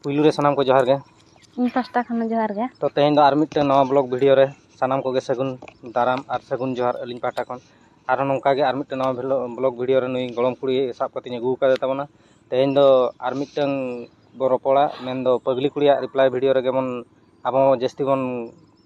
ᱯᱩᱭᱞᱩ ᱨᱮ ᱥᱟᱱᱟᱢ ᱠᱚ ᱡᱚᱦᱟᱨ ᱜᱮ ᱤᱧ ᱯᱟᱥᱴᱟ ᱠᱷᱚᱱ ᱦᱚᱸ ᱡᱚᱦᱟᱨ ᱜᱮ ᱛᱚ ᱛᱮᱦᱮᱧ ᱫᱚ ᱟᱨ ᱢᱤᱫᱴᱮᱱ ᱱᱟᱣᱟ ᱵᱞᱚᱜ ᱵᱷᱤᱰᱤᱭᱳ ᱨᱮ ᱥᱟᱱᱟᱢ ᱠᱚᱜᱮ ᱥᱟᱹᱜᱩᱱ ᱫᱟᱨᱟᱢ ᱟᱨ ᱥᱟᱹᱜᱩᱱ ᱡᱚᱦᱟᱨ ᱟᱹᱞᱤᱧ ᱯᱟᱦᱴᱟ ᱠᱷᱚᱱ ᱟᱨᱦᱚᱸ ᱱᱚᱝᱠᱟ ᱜᱮ ᱟᱨ ᱢᱤᱫᱴᱮᱱ ᱱᱟᱣᱟ ᱵᱞᱚᱜ ᱵᱷᱤᱰᱤᱭᱳ ᱨᱮ ᱱᱩᱭ ᱜᱚᱲᱚᱢ ᱠᱩᱲᱤ ᱥᱟᱵ ᱠᱟᱛᱮᱧ ᱟᱹᱜᱩ ᱟᱠᱟᱫᱮ ᱛᱟᱵᱚᱱᱟ ᱛᱮᱦᱮᱧ ᱫᱚ ᱟᱨ ᱢᱤᱫᱴᱮᱱ ᱵᱚ ᱨᱚᱯᱚᱲᱟ ᱢᱮᱱᱫᱚ ᱯᱟᱹᱜᱽᱞᱤ ᱠᱩᱲᱤᱭᱟᱜ ᱨᱤᱯᱞᱟᱭ ᱵᱷᱤᱰᱤᱭᱳ ᱨᱮ ᱡᱮᱢᱚᱱ ᱟᱵᱚ ᱡᱟᱹᱥᱛᱤ ᱵᱚᱱ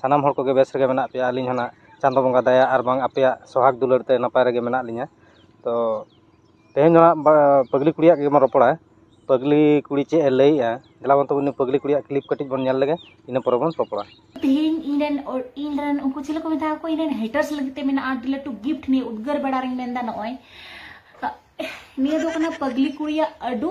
ᱥᱟᱱᱟᱢ ᱦᱚᱲ ᱠᱚᱜᱮ ᱵᱮᱥ ᱨᱮᱜᱮ ᱢᱮᱱᱟᱜ ᱯᱮᱭᱟ ᱟᱹᱞᱤᱧ ᱦᱚᱸ ᱱᱟᱜ ᱪᱟᱸᱫᱚ ᱵᱚᱸᱜᱟ ᱫᱟᱭᱟ ᱟᱨ ᱵᱟᱝ ᱟᱯᱮᱭᱟᱜ ᱥᱚᱦᱟᱜᱽ ᱫᱩᱞᱟᱹᱲ ᱛᱮ ᱱᱟᱯᱟᱭ ᱨᱮᱜᱮ ᱢᱮᱱᱟᱜ ᱞᱤᱧᱟᱹ ᱛᱚ ᱛᱮᱦᱮᱧ ᱫᱚ ᱦᱟᱸᱜ ᱯᱟᱹᱜᱽᱞᱤ ᱠᱩᱲᱤᱭᱟᱜ ᱜᱮᱵᱚᱱ ᱨᱚᱯᱚᱲᱟ ᱯᱟᱹᱜᱽᱞᱤ ᱠᱩᱲᱤ ᱪᱮᱫ ᱮ ᱞᱟᱹᱭᱮᱜᱼᱟ ᱫᱮᱞᱟ ᱵᱚᱱ ᱛᱚᱵᱮ ᱩᱱᱤ ᱯᱟᱹᱜᱽᱞᱤ ᱠᱩᱲᱤᱭᱟᱜ ᱠᱞᱤᱯ ᱠᱟᱹᱴᱤᱡ ᱵᱚᱱ ᱧᱮᱞ ᱞᱮᱜᱮ ᱤᱱᱟᱹ ᱯᱚᱨᱮ ᱵᱚᱱ ᱨᱚᱯᱚᱲᱟ ᱛᱮᱦᱮᱧ ᱤᱧ ᱨᱮᱱ ᱤᱧ ᱨᱮᱱ ᱩᱱᱠᱩ ᱪᱮᱞᱮ ᱠᱚ ᱢᱮᱛᱟ ᱠᱚ ᱤᱧ ᱨᱮᱱ ᱦᱮᱴᱟᱨᱥ ᱞᱟᱹᱜᱤᱫ ᱛᱮ ᱢᱮᱱᱟᱜᱼᱟ ᱟᱹᱰᱤ ᱞᱟᱹᱴᱩ ᱜᱤᱯᱷᱴ ᱱᱤᱭᱟᱹ ᱩᱫᱽᱜᱟᱹᱨ ᱵᱮᱲᱟ ᱨᱤᱧ ᱢᱮᱱᱫᱟ ᱱᱚᱜᱼᱚᱭ ᱱᱤᱭᱟᱹ ᱫᱚ ᱠᱟᱱᱟ ᱯᱟᱹᱜᱽᱞᱤ ᱠᱩᱲᱤᱭᱟᱜ ᱟᱹᱰᱩ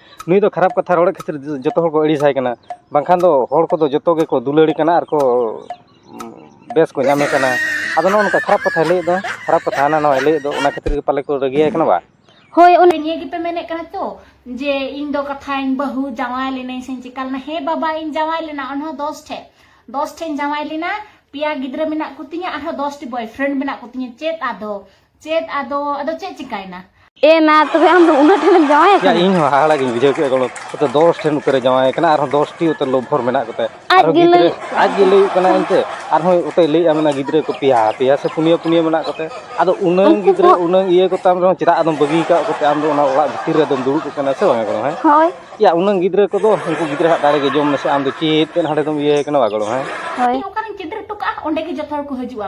ᱱᱩᱭ ᱫᱚ ᱠᱷᱟᱨᱟᱯ ᱠᱟᱛᱷᱟ ᱨᱚᱲᱮᱫ ᱠᱷᱟᱹᱛᱤᱨ ᱡᱚᱛᱚ ᱦᱚᱲ ᱠᱚ ᱟᱹᱲᱤᱥ ᱟᱭ ᱠᱟᱱᱟ ᱵᱟᱝᱠᱷᱟᱱ ᱫᱚ ᱦᱚᱲ ᱠᱚᱫᱚ ᱡᱚᱛᱚ ᱜᱮᱠᱚ ᱫᱩᱞᱟᱹᱲ ᱮ ᱠᱟᱱᱟ ᱟᱨ ᱠᱚ ᱵᱮᱥ ᱠᱚ ᱧᱟᱢᱮ ᱠᱟᱱᱟ ᱟᱫᱚ ᱱᱚᱜᱼᱚᱸᱭ ᱱᱚᱝᱠᱟ ᱠᱷᱟᱨᱟᱯ ᱠᱟᱛᱷᱟᱭ ᱞᱟᱹᱭᱮᱫ ᱫᱚ ᱠᱷᱟᱨᱟᱯ ᱠᱟᱛᱷᱟ ᱦᱟᱱᱟ ᱱᱚᱣᱟᱭ ᱞᱟᱹᱭᱮᱫ ᱫᱚ ᱚᱱᱟ ᱠᱷᱟᱹᱛᱤᱨ ᱜᱮ ᱯᱟᱞᱮ ᱠᱚ ᱨᱟᱹᱜᱤ ᱟᱭ ᱠᱟᱱᱟ ᱵᱟ ᱦᱳᱭ ᱚᱱᱮ ᱱᱤᱭᱟᱹ ᱜᱮᱯᱮ ᱢᱮᱱᱮᱫ ᱠᱟᱱᱟ ᱛᱚ ᱡᱮ ᱤᱧ ᱫᱚ ᱠᱟᱛᱷᱟᱧ ᱵᱟᱹᱦᱩ ᱡᱟᱶᱟᱭ ᱞᱮᱱᱟᱹᱧ ᱥᱮᱧ ᱪᱤᱠᱟ ᱞᱮᱱᱟ ᱦᱮᱸ ᱵᱟᱵᱟ ᱤᱧ ᱡᱟᱶᱟᱭ ᱞᱮᱱᱟ ᱚᱱᱦᱚᱸ ᱫᱚᱥ ᱴᱷᱮᱡ ᱫᱚᱥ ᱴᱷᱮᱡ ᱡᱟᱶᱟᱭ ᱞᱮᱱᱟ ᱯᱮᱭᱟ ᱜᱤᱫᱽᱨᱟᱹ ᱢᱮᱱᱟᱜ ᱠᱚᱛᱤᱧᱟ ᱟᱨᱦᱚᱸ ᱫᱚᱥᱴᱤ ᱵᱚᱭᱯᱷᱨᱮᱱᱰ ᱢᱮᱱᱟᱜ ᱠᱚᱛᱤᱧᱟ ᱪᱮᱫ ᱟᱫᱚ ᱪᱮᱫ ᱟᱫᱚ ᱟᱫᱚ ᱪᱮᱫ ᱪᱤᱠᱟᱭᱱᱟ ᱮ ᱱᱟ ᱛᱚᱵᱮ ᱟᱢ ᱫᱚ ᱩᱱᱟᱹᱜ ᱴᱷᱮᱱ ᱡᱟᱶᱟᱭ ᱠᱟᱱᱟ ᱤᱧ ᱦᱚᱸ ᱦᱟᱦᱟᱲᱟ ᱜᱤᱧ ᱵᱩᱡᱷᱟᱹᱣ ᱠᱮᱫ ᱜᱚᱲᱚ ᱛᱚ 10 ᱴᱷᱮᱱ ᱩᱛᱟᱹᱨ ᱡᱟᱶᱟᱭ ᱠᱟᱱᱟ ᱟᱨ 10 ᱴᱤ ᱩᱛᱟᱹᱨ ᱞᱚᱵᱷᱚᱨ ᱢᱮᱱᱟᱜ ᱠᱚᱛᱮ ᱟᱨ ᱜᱤᱫᱽᱨᱟᱹ ᱟᱡ ᱜᱮ ᱞᱟᱹᱭ ᱠᱟᱱᱟ ᱮᱱᱛᱮ ᱟᱨ ᱦᱚᱸ ᱩᱛᱟᱹᱨ ᱞᱟᱹᱭ ᱟᱢᱱᱟ ᱜᱤᱫᱽᱨᱟᱹ ᱠᱚ ᱯᱮᱭᱟ ᱯᱮᱭᱟ ᱥᱮ ᱯᱩᱱᱭᱟᱹ ᱯᱩᱱᱭᱟᱹ ᱢᱮᱱᱟᱜ ᱠᱚᱛᱮ ᱟᱫᱚ ᱩᱱᱟᱹᱝ ᱜᱤᱫᱽᱨᱟᱹ ᱩᱱᱟᱹᱝ ᱤᱭᱟᱹ ᱠᱚ ᱛᱟᱢ ᱨᱮᱦᱚᱸ ᱪᱮᱫᱟᱜ ᱟᱫᱚᱢ ᱵᱟᱹᱜᱤ ᱠᱟᱜ ᱠᱚᱛᱮ ᱟᱢ ᱫᱚ ᱚᱱᱟ ᱚᱲᱟᱜ ᱵᱷᱤᱛᱤᱨ ᱨᱮ ᱫᱚᱢ ᱫᱩᱲᱩᱵ ᱠᱟᱱᱟ ᱥᱮ ᱵᱟᱝ ᱜᱚᱲᱚ ᱦᱮᱸ ᱦᱳᱭ ᱭᱟ ᱩᱱᱟᱹᱝ ᱜᱤᱫᱽᱨᱟᱹ ᱠᱚ ᱫᱚ ᱩᱱᱠᱩ ᱜᱤᱫᱽᱨᱟᱹ ᱦᱟᱜ ᱫᱟᱲᱮ ᱜᱮ ᱡᱚᱢ ᱢᱮᱥᱮ ᱟᱢ ᱫᱚ ᱪᱮᱫ ᱛᱮ ᱦᱟᱸᱰᱮ ᱫᱚᱢ ᱤᱭᱟᱹ ᱠᱟᱱᱟ ᱵᱟᱝ ᱜᱚᱲᱚ ᱦᱮᱸ ᱦᱳᱭ ᱚᱠᱟᱨᱮᱧ ᱪᱤᱛᱨᱤ ᱴᱚᱠᱟᱜᱼᱟ ᱚᱸᱰᱮ ᱜᱮ ᱡᱚᱛᱚ ᱦᱚᱲ ᱠᱚ ᱦᱤᱡᱩᱜᱼᱟ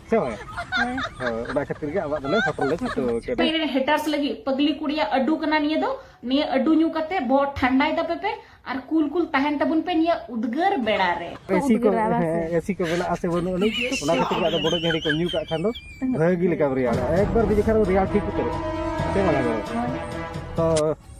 ᱥᱮ ᱵᱟᱝ ᱚᱱᱟ ᱠᱷᱟᱹᱛᱤᱨ ᱜᱮ ᱟᱵᱟᱜ ᱫᱚᱞᱮ ᱦᱚᱴᱚᱨ ᱞᱮ ᱪᱷᱩᱴᱟᱹᱣ ᱠᱮᱫᱟ ᱯᱮᱨᱮ ᱦᱮᱴᱟᱨᱥ ᱞᱟᱹᱜᱤᱫ ᱯᱟᱜᱞᱤ ᱠᱩᱲᱤᱭᱟ ᱟᱹᱰᱩ ᱠᱟᱱᱟ ᱱᱤᱭᱟᱹ ᱫᱚ ᱱᱤᱭᱟᱹ ᱟᱹᱰᱩ ᱧᱩ ᱠᱟᱛᱮ ᱵᱚ ᱴᱷᱟᱱᱰᱟᱭ ᱫᱟᱯᱮ ᱯᱮ ᱟᱨ ᱠᱩᱞ ᱠᱩᱞ ᱛᱟᱦᱮᱱ ᱛᱟᱵᱚᱱ ᱯᱮ ᱱᱤᱭᱟᱹ ᱩᱫᱽᱜᱟᱹᱨ ᱵᱮᱲᱟ ᱨᱮ ᱮᱥᱤ ᱠᱚ ᱮᱥᱤ ᱠᱚ ᱢᱮᱱᱟᱜᱼᱟ ᱥᱮ ᱵᱟᱹᱱᱩᱜ ᱟᱹᱱᱤᱡ ᱚᱱᱟ ᱠᱷᱟᱹᱛᱤᱨ ᱜᱮ ᱟᱫᱚ ᱵᱚᱰᱚ ᱡᱷᱟᱹᱲᱤ ᱠᱚ ᱧᱩ ᱠᱟᱜ ᱠᱷᱟᱱ ᱫᱚ ᱵᱷᱟᱹᱜᱤ ᱞᱮᱠᱟᱢ ᱨᱮᱭᱟᱲᱟ ᱮᱠᱵᱟᱨ ᱜᱮ ᱡᱮᱠᱷᱟᱱ ᱨᱮᱭᱟᱲ ᱴᱷᱤᱠ ᱩᱛᱟᱹᱨᱚᱜᱼᱟ ᱥᱮ ᱵᱟᱝ ᱛᱚ